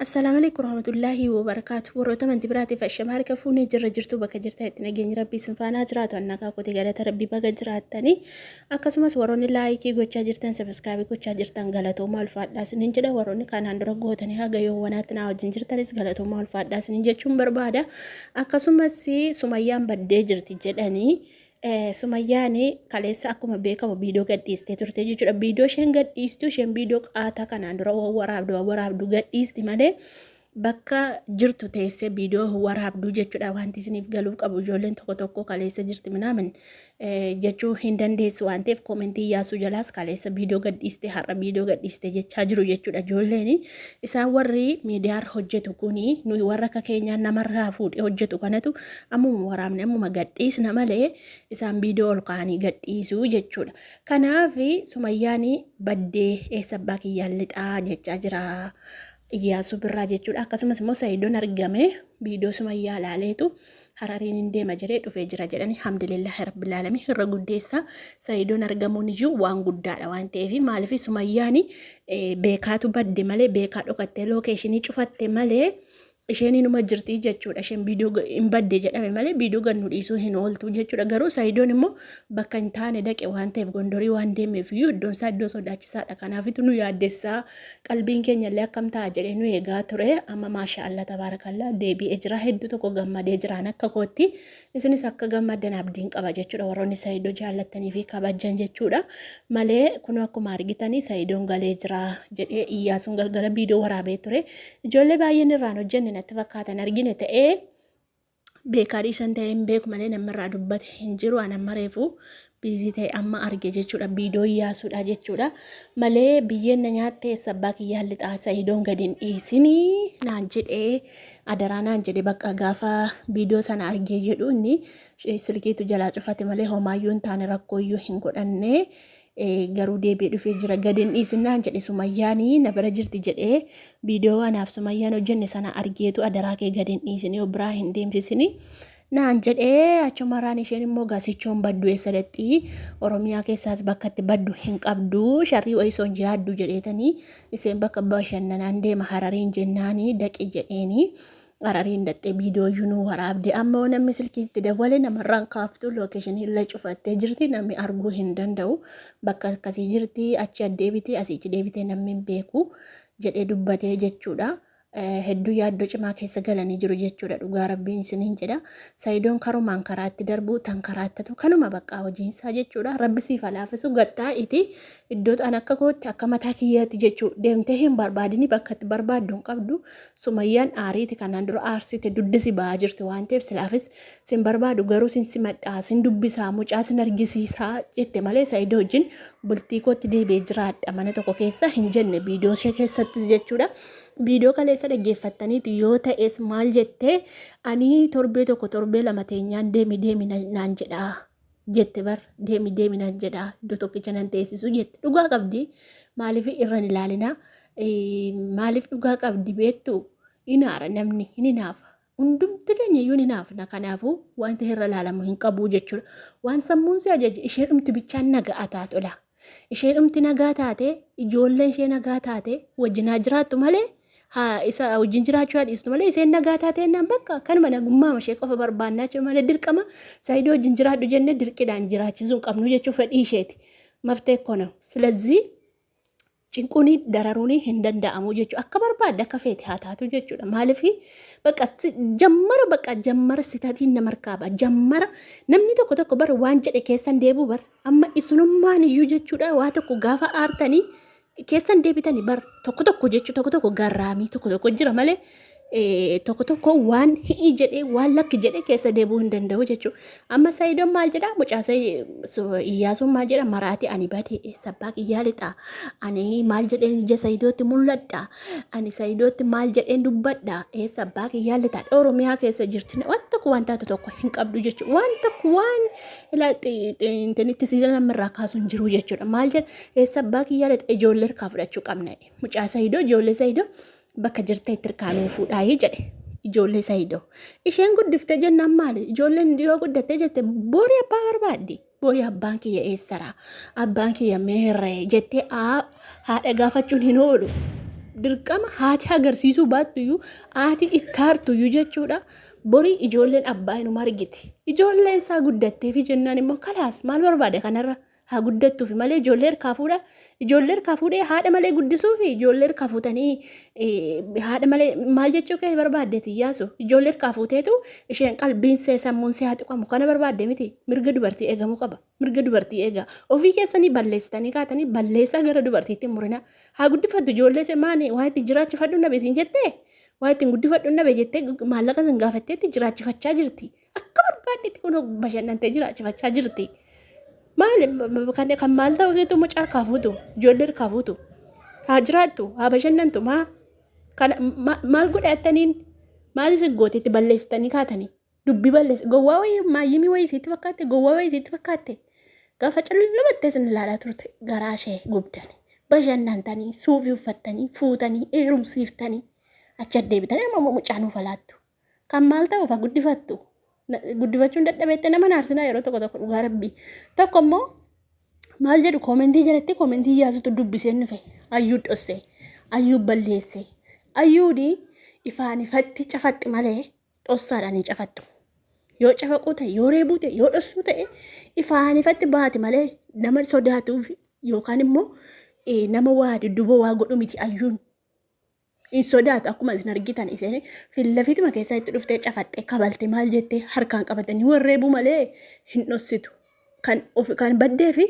Assalaamu aleykum warahmatullaahi wabarakaatu warroota amanti biraatiif ashama harka fuunee jirra jirtuu bakka jirtan itti nageenyi rabbii isin faanaa jiraatu annagaa kooti galata rabbii baga jiraattanii akkasumas warroonni laayikii gochaa jirtan sabiskaabii gochaa jirtan galatoomaa ulfaadhaa isiniin jedha warroonni kanaan dura gootanii haga yoowwanaatti naa wajjin jirtanis galatoomaa ulfaadhaa isiniin jechuun barbaada akkasumas sumayyaan baddee jirti jedhanii Sumayyaan kaleessa akkuma beekamu viidiyoo gadhiistee turte jechuudha. Viidiyoo isheen gadhiistu isheen viidiyoo qaataa kanaan dura waraabdu waraabdu gadhiisti malee bakka jirtu teessee viidiyoo waraabdu jechuudha. Wanti isiniif galuu qabu ijoolleen tokko tokko kaleessa jirti minaamin jechuu hin dandeessu waan ta'eef koomentii yaasuu jalaas kaleessa viidiyoo gadhiiste har'a viidiyoo gadhiiste jechaa jiru jechuudha. Ijoolleen isaan warri miidiyaarra hojjetu kuni nuyi warra akka keenyaa namarraa fuudhee hojjetu kanatu Ammuma waraabne ammuma gadhiisna malee isaan viidiyoo ol kaa'anii gadhiisu jechuudha. Kanaaf Sumayyaan baddee eessa abbaa kiyyaan lixaa jechaa jira Iyyaasuu Birraa jechuudha. Akkasumas immoo Sayidoon argame viidiyoo Sumayyaa ilaaleetu harariin hin deema jedhee dhufee jira jedhanii hamdulillaahi rabbil aalamiin irra guddeessa Sayidoon argamuun iyyuu waan guddaadha waan ta'eef maaliif Sumayyaan beekaatu badde malee beekaa dhokattee lookeeshinii cufatte malee isheen inuma jirti jechuudha isheen viidiyoo ga- hin badde jedhame malee viidiyoo gad nu dhiisuu hin ooltu jechuudha garuu sayidoon immoo bakka hin taane dhaqe waan ta'eef gondorii waan deemeef iyyuu iddoon isaa iddoo sodaachisaadha kanaafitu nu yaaddessaa qalbiin keenya illee akkam ta'a jedhee nu eegaa ture amma maashaa allah tabaarakallaa deebi'ee jira hedduu tokko gammadee jiraan akka kootti isinis akka gammaddan abdiin qaba jechuudha warroonni Sayido jaallattanii fi kabajjan jechuudha malee kun akkuma argitanii Sayidoon galee jira jedhee Iyyaasuun galgala viidiyoo waraabee ture ijoollee baay'een irraan hojjenne natti fakkaatan argine ta'ee beekaa dhiisan ta'ee hin beeku malee namni irraa dubbate hin jiru anamma reefu biizii ta'e amma arge jechuudha biidoo yaasuudha jechuudha malee biyyeen na nyaatte eessa abbaa kiyyaan lixaa sa'idoon gadi hin dhiisini naan jedhee adaraa naan jedhe bakka gaafa biidoo sana argee jedhu inni eh, silkiitu jalaa cufate malee homaayyuu hin taane rakkooyyuu hin godhanne eh, garuu deebi'ee dhufee jira gadi hin dhiisin naan jedhe sumayyaanii na bira jirti jedhee biidoo anaaf sumayyaan hojjenne sana argeetu adaraa kee gadi hin dhiisini yoo biraa hin deemsisini Naan jedhee achumarraan isheen immoo gasichoon baddu eessa dhaqxi Oromiyaa keessaas bakka itti baddu hin qabdu sharrii wayisoon yaaddu jedheetanii isheen bakka bashannanaan deema harariin jennaanii daqi jedheeni harariin dhaqxee viidiyooyyuu nu waraabde amma yoo namni silkii itti dawwale namarraan kaaftu lookeeshinii illee cufattee jirti namni arguu hin danda'u bakka akkasii jirti achi addeebitee asiichi deebitee namni hin beeku jedhee dubbatee jechuudha. hedduu yaaddoo cimaa keessa galanii jiru jechuudha dhugaa rabbiin isiniin jedha sayidoon karumaan karaa itti darbu tan karaa ittatu kanuma baqqaa hojiinsaa jechuudha rabbi siif halaafisu gaxxaa iti iddoo an akka kootti akka mataa kiyyaatti jechuu deemtee hin barbaadini bakka itti barbaaddu hin qabdu sumayyaan aariiti kanaan dura aarsite dudda si ba'aa jirti waan ta'eef silaafis Sin barbaadu garuu sin simadhaa, sin dubbisaa, mucaa sin argisiisaa jette malee Saayidoo wajjin bultii kootti deebi'ee jiraadha mana tokko keessa hin jenne viidiyoo ishee keessatti jechuudha. Viidiyoo kaleessa dhaggeeffattaniitu yoo ta'es maal jettee ani torbee tokko torbee lama teenyaan deemi deemi naan jedhaa jette bar deemi deemi naan jedhaa iddoo tokkicha nan teessisuu jette dhugaa qabdi maaliif irra hin ilaalinaa maaliif dhugaa qabdi beektu hinaara namni hin hinaafa Hundumti keenya iyyuu ni naafna, kanaafuu wanti irra laalamu hin qabu jechuudha. Waan sammuun si ajaje isheedhumti bichaan naga'a taa tola. Isheedhumti nagaa taate, ijoolleen ishee nagaa taate wajjin haa jiraattu malee haa isa wajjin jiraachuu haa dhiistu malee isheen nagaa taate jennaan bakka kanuma nagummaama ishee qofa barbaannaa jechuudha malee dirqama saayidoo wajjin jiraadhu jennee dirqidhaan jiraachisuu hin qabnu jechuun fedhii isheeti. Maftee koo ነው። ስለዚህ cinquuni dararuuni hin danda'amu jechu akka barbaadde akka feete haa taatu jechuudha maalifi baqa jammara baqa jammara sitatiin nama harkaaba jammara namni tokko tokko bara waan jedhe keessan deebuu bar amma isinummaan iyyuu jechuudha waa tokko gaafa aartanii keessan deebitanii bar tokko tokko jechu tokko tokko garraamii tokko tokko jira malee tokko tokko waan hi'ii jedhee waan lakki jedhee keessa deebi'uu hin danda'u jechuudha. Amma Sayidoon maal jedha mucaa Iyyaasuun maal jedha maraati ani badee eessa abbaa kiyyaa lixaa ani maal jedheen ija Sayidootti mul'adha ani Sayidootti maal jedheen dubbadha eessa abbaa kiyyaa lixaa Oromiyaa keessa jirti waan tokko waan taatu tokko hin qabdu jechuudha waan tokko waan intinitti siidana namarraa kaasu hin jiru jechuudha maal jedha eessa abbaa kiyyaa lixaa ijoollee harkaa fudhachuu qabna mucaa Sayidoo ijoollee Sayidoo bakka jirtee itti irkaa nuu fuudhaayii jedhe ijoollee sayidoo isheen guddifte jennaan maali ijoolleen yoo guddatte jette boori abbaa barbaaddi boori abbaan kiyya eessara abbaan kiyya meerree jettee haadha gaafachuun hin oolu dirqama haati agarsiisuu baattuyyuu haati ittaartuyyuu jechuudha borii ijoolleen abbaa inuma argiti ijoolleen isaa guddatteefi jennaan immoo kalaas maal barbaade kanarra haa guddattuufi malee ijoollee irkaa fuudha ijoollee irkaa fuudhee haadha malee guddisuufi ijoollee irkaa fuutanii eh, haadha malee maal jechuu kee barbaaddeeti iyyaasu ijoollee irkaa fuuteetu isheen qalbiin see sammuun see haa tuqamu kana barbaadde miti mirga dubartii eegamuu qaba mirga dubartii eegaa ofii keessanii balleessitanii kaatanii balleessaa gara dubartiitti hin murinaa haa guddifattu ijoollee ishee maani waa itti jiraachifadhu nabe siin jettee waa ittiin guddifadhu nabe jettee maallaqa sin gaafatteetti jiraachifachaa jirti Akka barbaaddetti kun bashannantee jiraachifachaa jirti. Maal kan kan maal ta'u seetu mucaa harkaa fuutu ijoollee harkaa fuutu haa jiraattu haa bashannantu maa kan ma- maal godhe attaniin maal isin goote itti balleessitanii kaatanii dubbii balleessi gowwaa wayii maayyimii wayii isiitti fakkaatte gowwaa wayii isiitti fakkaatte gaafa callumattee isin ilaalaa turte garaa ishee gubdani bashannantanii suufii uffattanii fuutanii heerumsiiftanii achi addeebitanii amma immoo mucaa nuuf alaattu Kan maal ta'uuf haa guddifattu? Guddifachuun dadhabeette nama naarsinaa yeroo tokko tokko dhugaa rabbii. Tokko immoo maal jedhu koomentii jalatti koomentii yaasutu dubbiseen dhufe. Ayyuu dhossee, ayyuu balleessee, ayyuuni ifaan ifatti cafatti malee dhossaadhaan hin cafattu. Yoo cafaquu ta'e, yoo reebuu ta'e, yoo dhossuu ta'e ifaan ifatti baati malee nama sodaatuuf yookaan immoo nama waa dudduuba waa godhu miti ayyuun. hin sodaatu akkuma isin argitan isheen fillafituma keessaa itti dhuftee cafaxxee kabalte maal jettee harkaan qabatanii warreebuu malee hin dhossitu kan of kan baddee fi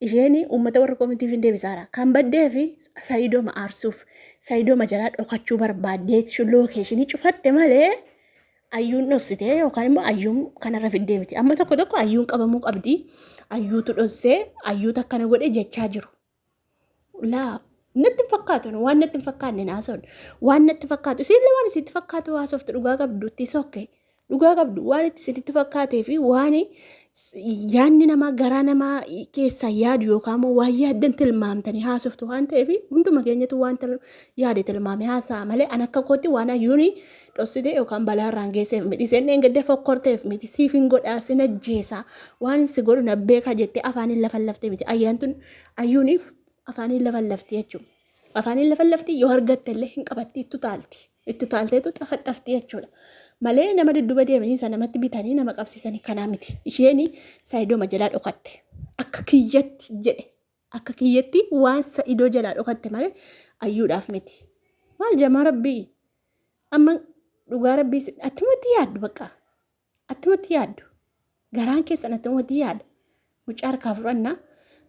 isheen uummata warra koomitiif hin deebisaara kan baddee fi sayidooma aarsuuf sayidooma jalaa dhokachuu barbaaddeet lookeeshinii cufatte malee ayyuun dhossitee yookaan immoo ayyuun kanarra fiddee miti amma tokko tokko ayyuun qabamuu qabdi ayyuutu dhossee ayyuutu akkana godhe jechaa jiru. laa natti hin fakkaatu nu waan natti hin fakkaanne hin haasoon waan natti fakkaatu isiillee waan isitti fakkaatu haasoftu dhugaa qabdu itti sokke dhugaa qabdu waan itti isinitti fakkaatee fi waan yaadni namaa garaa namaa keessaa yaadu yookaan immoo waan yaaddan tilmaamtanii haasoftu waan ta'eef hunduma keenyatu waan yaade tilmaame haasa'a malee an akka kootti waan hayyuuni dhossite yookaan balaa irraan geesseef miti. Isheen dheengadda fokkorteef miti. Siif hin godhaa, sin ajjeesa, waan hin si godhu na beeka jettee afaaniin lafa lafte miti. Ayyaantuun ayyuuniif afaaniin lafa lafti jechuudha. Afaaniin lafa lafti yoo argatte illee hin qabatti ittu taalti. Ittu taalteetu xafaxxafti jechuudha. Malee nama dudduba deemanii isa namatti bitanii nama qabsiisanii kanaa miti. Isheen saayidoma jalaa dhokatte. Akka kiyyatti jedhe. Akka kiyyatti waan sa'idoo jalaa dhokatte malee ayyuudhaaf miti. Maal jamaa rabbii? Amma dhugaa rabbii si- attumatti yaaddu bakka. Attumatti yaaddu. Garaan keessan attumatti yaada. Mucaa harkaa fudhannaa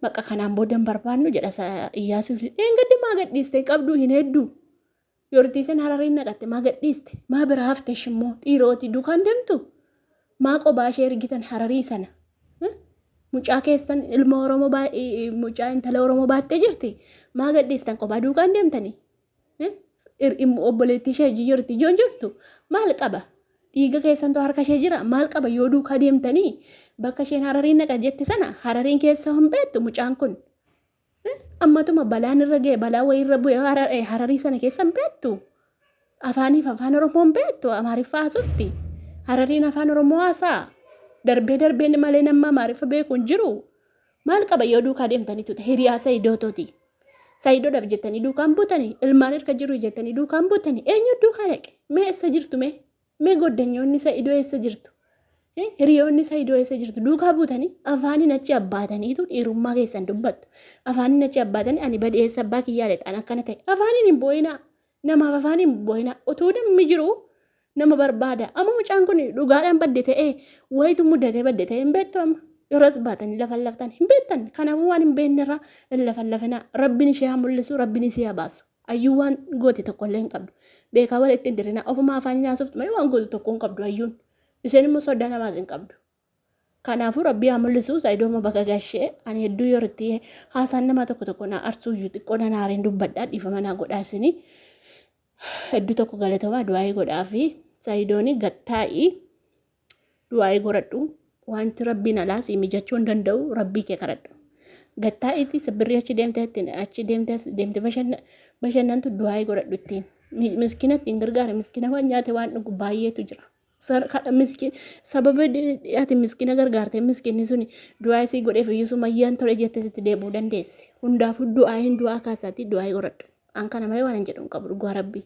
bakka kanaan booda hin barbaannu jedha sa- Iyyaasuun. Dheengaddi maa gadhiiste hin qabduu hin hedduu. Yordiisin harariin naqatte maa gadhiiste maa bira hafte ishimmoo dhiirooti dukaan demtu maa qobaa ishee ergitan hararii sana mucaa keessan ilma oromoo mucaa intala oromoo baattee jirti maa gadhiistan qobaa duukaan deemtanii obboleettii ishee hojii jirti ijoon jirtu maal qaba dhiiga keessantu harka ishee jira maal qaba yoo duukaa deemtanii bakka isheen harariin naqa jette sana harariin keessa hin beektu mucaan kun Ammatuma balaan irra ga'e balaa wayii irra bu'e Harar- eh, hararii sana keessa hin beektu. Afaaniif afaan Oromoo hin beektu Amaariffaa haasofti. Harariin afaan Oromoo haasaa. Darbee darbee inni malee namni Amaariffa beeku hin jiru. Maal qaba yoo duukaa deemtanitu ta'e hiriyaa Sayidoototi. Sayidoodhaaf jettanii duukaan butani ilmaan erga jiru jettanii duukaan butani eenyu duukaa dhaqe mee eessa jirtu mee Mee goddanyoonni sa'idoo eessa jirtu? Eh, Hiriyoonni sa'idoo eessa jirtu? Duukaa buutanii afaaniin achi abbaataniitu dhiirummaa keessan dubbattu. Afaaniin achi abbaatanii ani badee eessa abbaa kiyyaa lexaan akkana ta'e. Afaaniin hin boo'inaa. Namaaf afaaniin hin boo'inaa. Utuu namni jiru nama barbaada. Amma mucaan kun dhugaadhaan badde ta'ee wayitu mudatee badde ta'ee hin beektu amma. Yeroos baatanii lafan laftan hin beektan. Kanaafuu waan hin beeknerraa hin lafan lafinaa. Rabbiin ishee haa mul'isu, rabbiin isii haa baasu. Ayyuun waan goote tokko illee hin qabdu. Beekaa wal ittiin dirrinaa ofuma afaan nyaasoftu malee waan gootu tokko hin qabdu ayyuun. Isheen immoo sodaa namaas hin qabdu. Kanaafuu rabbii haa mul'isu saayidooma baga gashee ani hedduu yoo irratti haasaan namaa tokko tokko naa arsuu iyyuu xiqqoo nan aareen dubbadhaa dhiifama naa godhaa isinii. Hedduu tokko galatoomaa du'aa'ii godhaa fi saayidooni gattaa'ii Du'aa'ii goradhu wanti rabbiin alaa sii mijachuu hin danda'u rabbii kee kadhadhu. Gattaa'iitti sabbirrii achi deemte ittiin achi deemte as deemte bashanna- bashannantu du'aa'ii godhadhu ittiin. Mi- Miskiina ittiin gargaari miskiina waan nyaate waan dhugu baay'eetu jira. Sar- kadha- miskiin- Sababa di- ati miskiina gargaartee miskiinni suni du'aa'ii sii godheef iyyuu sumayyaan tole jettee sitti deebi'uu dandeessi. Hundaafuu du'aa'iin du'aa kaasaatii du'aa'ii godhadhu. An kana malee waan hin jedhu hin qabu dhugaa rabbii.